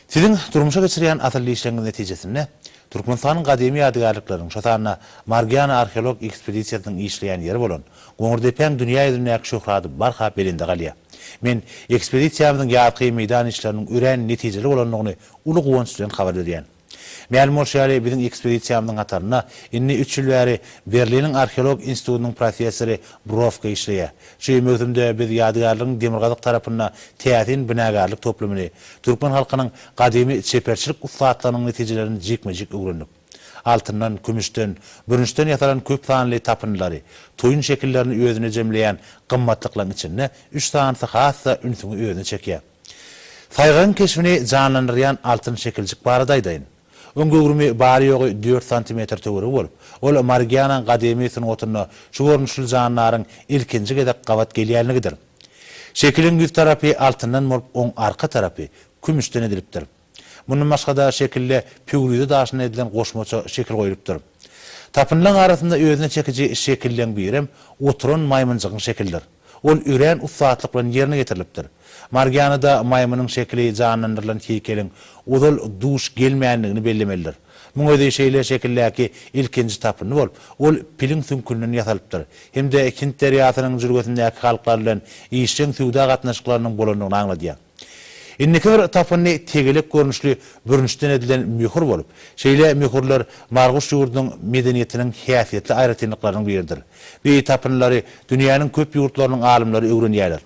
Siziň durmuşa geçirýän asylly işleriňiz netijesinde Türkmenistanyň gadymy ýadygärlikleriniň, şo sanda Margiana arheologik ekspedisiýasynyň işleýän ýeri bolan Goňurdepäň dünýä ýüzündäki şöhraty barha belende galýar. Men ekspedisiýamyzyň ýazky meýdan işleriniň örän netijeli bolandygyny uly guwanç bilen habar berýän. Mälim bolşy ýaly, biziň ekspedisiýamyzyň hatarynda indi üç ýyl bäri Berliniň arheologik institutynyň professory Browka işleýär. Şu möwsümde biz ýadygärligiň demirgazyk tarapynda täsin binagärlik toplumyny, türkmen halkynyň gadymy çeperçilik ussatlygynyň netijelerini jikme-jik öwrendik. Altyndan, kümüşden, bürünçden ýasalan köp sanly tapyndylary, toýun şekillerini özünde jemleýän gymmatlyklaryň içinde üç sanysy has-da ünsüňi özüne çekýär. Saýgagyň keşbini janlandyrýan altyn şekiljik barada aýdaýyn. Oň göwrümi bary-ýogy dört santimetr töweregi bolup, ol Marigiananyň gadymy sungatynda şu görnüşli jandaryň ilkinji gezek gabat gelýänligidir. Şekiliň ýüz tarapy altyndan bolup, oň arka tarapy kümüşden edilipdir. Mundan başga-da şekilde püwrize daşyndan edilen goşmaça şekil goýlupdyr. Tapynlaň arasynda özüne çekiji şekilleň birem oturan maýmynjygyň şekildir. Ol örän ussatlyk bilen ýerine ýetirilipdir. Margianada maýmynyň şekili janlandyrylan heýkeliň ozal duş gelmändigini bellemelidir. Muň özi şeýle şekildäki ilkinji tapyndy bolup, ol piliň süňkünden ýasalypdyr hem-de Hind derýasynyň jülgesindäki halklar bilen işjeň söwda gatnaşyklarynyň bolandygyny aňladýar. Indiki bir tapyndy tegelek görnüşli bürünçden edilen möhür bolup, şeýle möhürler Marguş ýurdunyň medeniýetiniň häsiýetli aýratynlyklarynyň biridir. Beýi tapyndylary dünýäniň köp ýurtlarynyň alymlary öwrenýärler.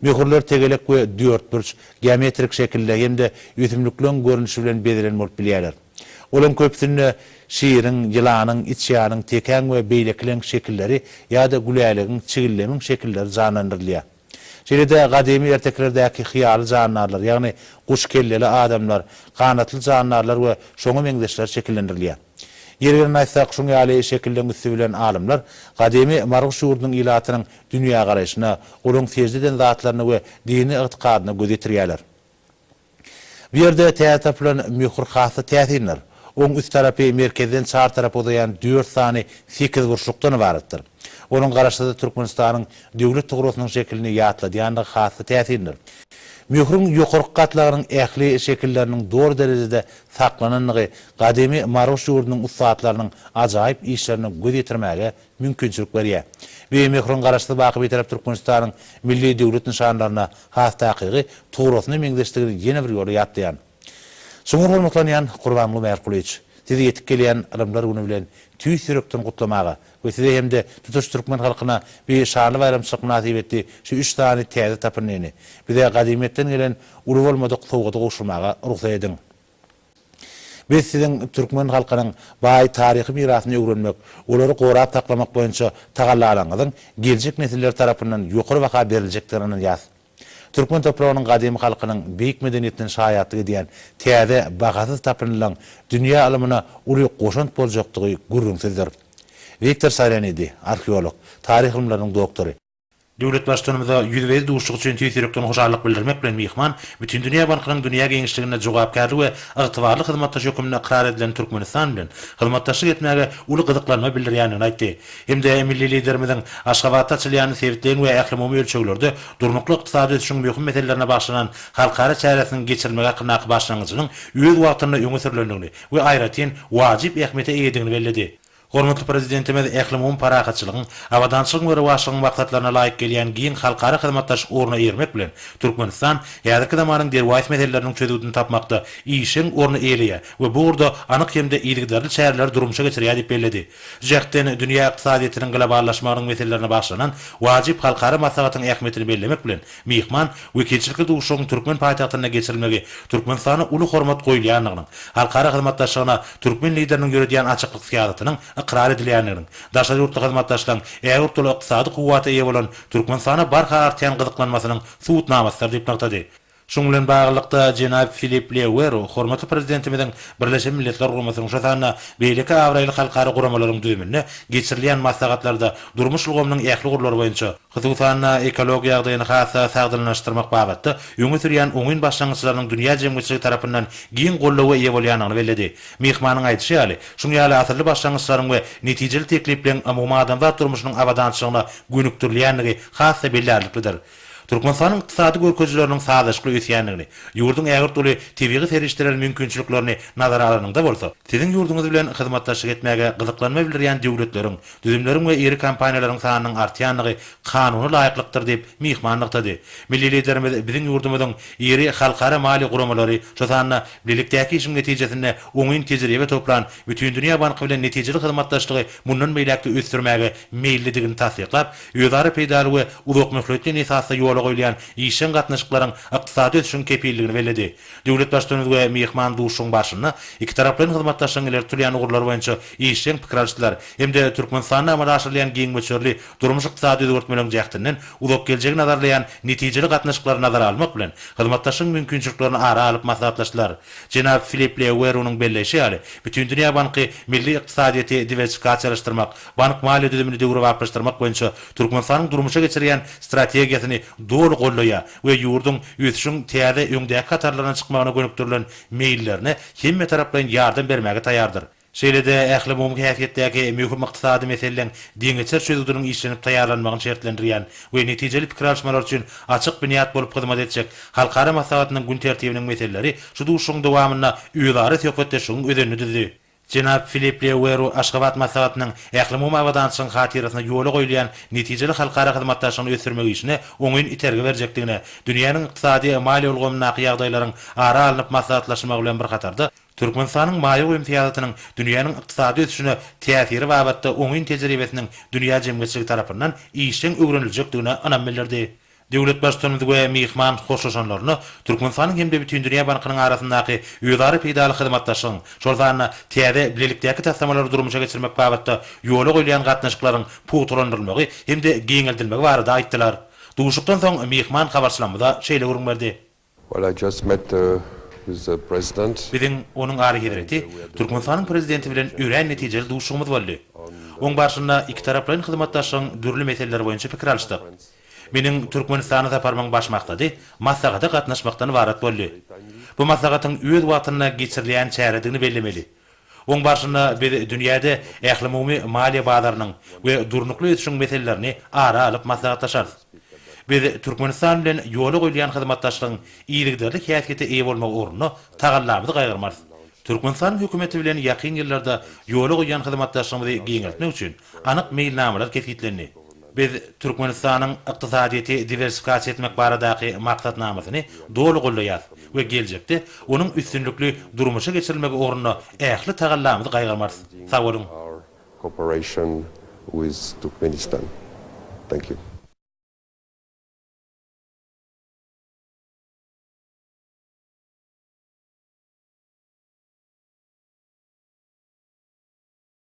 Möhürler tegelek we dörtburç, geometrik şekilde hem-de ösümlikleň görnüşi bilen bezelen bolup bilýärler. Olaryň köpüsinde şiriň, ýylanyň, içýanyň, tekäň we beýlekileň şekilleri ýa-da gülälegiň, çigildemiň şekilleri janlandyrylýar. Şeýle-de gadymy ertekilerdäki hyýaly jandarlar, ýagny guş kelleli adamlar, ganatly jandarlar we şoňa meňzeşler şekillendirilýär. Ýeri gelende aýtsak, şuň ýaly şekilleň üsti bilen alymlar gadymy Marguş ýurdunyň ilatynyň dünýägaraýşyna, olaryň sežde eden zatlaryna we dini ygtykadyna göz ýetirýärler. Bu ýerde täze tapylan möhür has-da täsindir. Oň üst tarapy merkezden çar tarapa uzaýan dört sany sekizburçlukdan ybaratdyr. Onuň garaşsyzda Türkmenistanyň Döwlet tugrasynyň şekilini ýatladýandygy has-da täsindir. Möhrüň ýokarky gatlagynyň ähli şekilleriniň doly derejede saklanandygy gadymy Maruş ýurdunyň ussatlarynyň ajaýyp işlerine göz ýetirmäge mümkinçilik berýär. Beýemehriň Garaşsyz, baky Bitarap Türkmenistanyň milli döwlet nyşanlaryna has takygy, tugrasyna meňzeşdigini ýene bir ýola ýatlaýan. Çuňňur hormatlanýan Gurbanguly Mälikgulyç! Sizi ýetip gelýän Ylymlar güni bilen tüýs ýürekden gutlamaga we Size hem-de tutuş türkmen halkyna bi şanly baýramçylyk mynasybetli şu üç sany täze tapyndyny, bize gadymyýetden gelen uly bolmadyk sowgady gowşurmaga rugsat ediň! Biz siziň türkmen halkynyň baý taryhy mirasyny öwrenmek, olary gorap saklamak boýunça tagallalaryňyzyň geljek nesiller tarapyndan ýokary baha beriljekdigine ynanýas. Türkmen topragynyň gadymy halkynyň beýik medeniýetinden şaýatlyk edýän täze bahasyz tapyndylaň dünýä ylymyna uly goşant boljakdygy gürrüňsizdir. Wiktor Sarenidi, arheolog, taryh ylymlarynyň doktory. Döwlet Baştutanymyza ýüzbe-ýüz duşuşyk üçin tüýs ýürekden hoşallyk bildirmek bilen myhman Bütindünýä bankynyň dünýä giňişliginde jogapkärli we ygtybarly hyzmatdaş hökmünde ykrar edilen Türkmenistan bilen hyzmatdaşlyk etmäge uly gyzyklanma bildirýändigini aýtdy hem-de milli Liderimiziň Aşgabatda açylýan sebitleýin we ählumumy ölçeglerde durnukly ykdysady ösüşiň möhüm meselelerine bagyşlanan halkara çäresiniň geçirilmegi hakyndaky başlangyjynyň öz wagtynda öňe sürlendigini we aýratyn wajyp ähmiýete eýedigini belledi. Hormatly Prezidentimiz ählumumy parahatçylygyň, abadançylygyň we rowaçlygyň maksatlaryna laýyk gelýän giň halkara hyzmatdaşlyk ugruna eýermek bilen, Türkmenistan häzirki zamanyň derwaýys meseleleriniň çözgüdini tapmakda işjeň orny eýeleýär we bu ugurda anyk hem-de yzygiderli çäreleri durmuşa geçirýär diýip belledi. Şu jähtden dünýä ykdysadyýetiniň globallaşmagynyň meselelerine bagyşlanan wajyp halkara maslahatyň ähmiýetini bellemek bilen, Myhman wekilçilikli duşuşygyň türkmen paýtagtynda geçirilmegi Türkmenistana uly hormat goýulýandygynyň, halkara hyzmatdaşlygyna türkmen Lideriniň ýöredýän açyklyk syýasatynyň ykrar edilýändiginiň, daşary ýurtly hyzmatdaşlaryň ägirt uly ykdysady kuwwata eýe bolan Türkmenistana barha artýan gyzyklanmasynyň subutnamasydyr diýip nygtady. Şunuň bilen baglylykda, jenap Filipp Leuweru hormatly Prezidentimiziň Birleşen Milletler Guramasynyň, şol sanda beýleki abraýly halkara guramalaryň düzüminde geçirilýän maslahatlarda durmuş ulgamynyň ähli ugurlary boýunça, hususan-da, ekologiýa ýagdaýyny has-da sagdynlaşdyrmak babatda öňe sürýän oňyn başlangyçlarynyň dünýä jemgyýetçiligi tarapyndan giň goldawa eýe bolýandygyny belledi. Myhmanyň aýdyşy ýaly, şuň ýaly asylly başlangyçlaryň we netijeli teklipleriň umumadamzat durmuşynyň abadançylygyna gönükdirilýändigi has-da bellärliklidir. Türkmenistanyň ykdysady görkezileriniň sazlaşykly ösýändigini, ýurduň ägirt uly tebigy serişdeler mümkinçiliklerini nazara alanyňda bolsa, siziň ýurduňyz bilen hyzmatdaşlyk etmäge gyzyklanma bildirýän döwletleriň Düzümleriň we iri kompaniýalaryň sanynyň artýandygy kanuny laýyklykdyr diýip, myhman nygtady. Milli Liderimiz biziň ýurdumyzyň iri halkara maliýe guramalary, şol sanda bilelikdäki işiň netijesinde oňyn tejribe toplan Bütindünýä banky bilen netijeli hyzmatdaşlygy mundan beýläk-de ösdürmäge meýillidigini tassyklap, özara peýdaly we uzakmöhletleýin esasda ýola goýulýan işjeň gatnaşyklaryň ykdysady ösüşiň kepilligini belledi. Döwlet Baştutanymyz we myhman duşuşygyň barşynda ikitaraplaýyn hyzmatdaşlygyň ileri tutulýan ugurlary boýunça işjeň pikir alyşdylar hem-de Türkmenistanda amala aşyrylýan giň möçberli durmuş-ykdysady özgertmeleriň jähtinden uzak geljegi nazarlaýan netijeli gatnaşyklary nazara almak bilen, hyzmatdaşlygyň mümkinçiliklerini ara alyp maslahatlaşdylar. Jenap Filipp Leewerunyň belleýşi ýaly, Bütindünýä banky milli ykdysadyýeti diwersikasiýalaşdyrmak, bank-maliýe düzümini döwrebaplaşdyrmak boýunça Türkmenistanyň durmuşa geçirýän strategiýasyny doly goldaýar we ýurduň ösüşiň täze öňdäki hatarlaryna çykmagyna gönükdirilen meýillerine hemmetaraplaýyn ýardam bermäge taýýardyr. Şeýle-de ählumumy häsiýetdäki möhüm ykdysady meseleleň deňeçer çözgüdiniň işlenip taýýarlanmagyny şertlendirýän we netijeli pikir alyşmalar üçin açyk binýat bolup hyzmat etjek halkara maslahatynyň gün tertibiniň meseleleri şu duşuşygyň dowamynda özara söhbetdeşligiň özenini düzdi. Jenap Filip Le Weru Aşgabat maslahatynyň ählumumy abadançylygyň hatyrasyna ýola goýulýan netijeli halkara hyzmatdaşlygyny ösdürmek işine oňyn itergi berjekdigine, dünýäniň ykdysady, maliýe ulgamyndaky ýagdaýlaryň ara alnyp maslahatlaşylmagy bilen bir hatarda, Türkmenistanyň maýa goýum syýasatynyň dünýäniň ykdysady ösüşine täsiri babatda oňyn tejribesiniň dünýä jemgyýetçiligi tarapyndan işjeň öwreniljekdigine ynam bildirdi. Döwlet Baştutanymyz we myhman hoşlaşanlaryna Türkmenistanyň hem-de Bütindünýä bankynyň arasyndaky özara peýdaly hyzmatdaşlygyň, şol sanda täze bilelikdäki taslamalary durmuşa geçirmek babatda ýola goýulýan gatnaşyklaryň pugtalandyrylmagy hem-de giňeldilmegi barada aýtdylar. Duşuşykdan soň myhman habarçylarymyza şeýle gürrüň berdi. Well I just met the with the president. Biziň, Onuň Alyhezreti, Türkmenistanyň Prezidenti bilen örän netijeli duşuşygymyz boldy. Oň barşynda ikitaraplaýyn hyzmatdaşlygyň dürli meseleleri boýunça pikir alyşdyk. Meniň Türkmenistana saparymyň baş maksady maslahata gatnaşmakdan ybarat boldy. Bu maslahatyň öz wagtynda geçirilýän çäredigini bellemeli. Oň barşynda biz dünýäde ählumumy maliýe bazarynyň we durnukly ösüşiň meselelerini ara alyp maslahatlaşarys. Biz Türkmenistan bilen ýola goýulýan hyzmatdaşlygyň yzygiderli häsiýete eýe bolmagy ugrunda tagallamyzy gaýgyrmarys. Türkmenistanyň hökümeti bilen ýakyn ýyllarda ýola goýýan hyzmatdaşlygymyzy giňeltmek üçin Anyk meýilnamalar kesgitlendi. Biz Türkmenistanyň ykdysadyýeti diwersifikasiýa etmek baradaky maksatnamasyny doly goldaýarys we geljekde onuň üstünlikli durmuşa geçirilmegi ugrunda ähli tagallamyzy gaýgyrmarys. Sag boluň!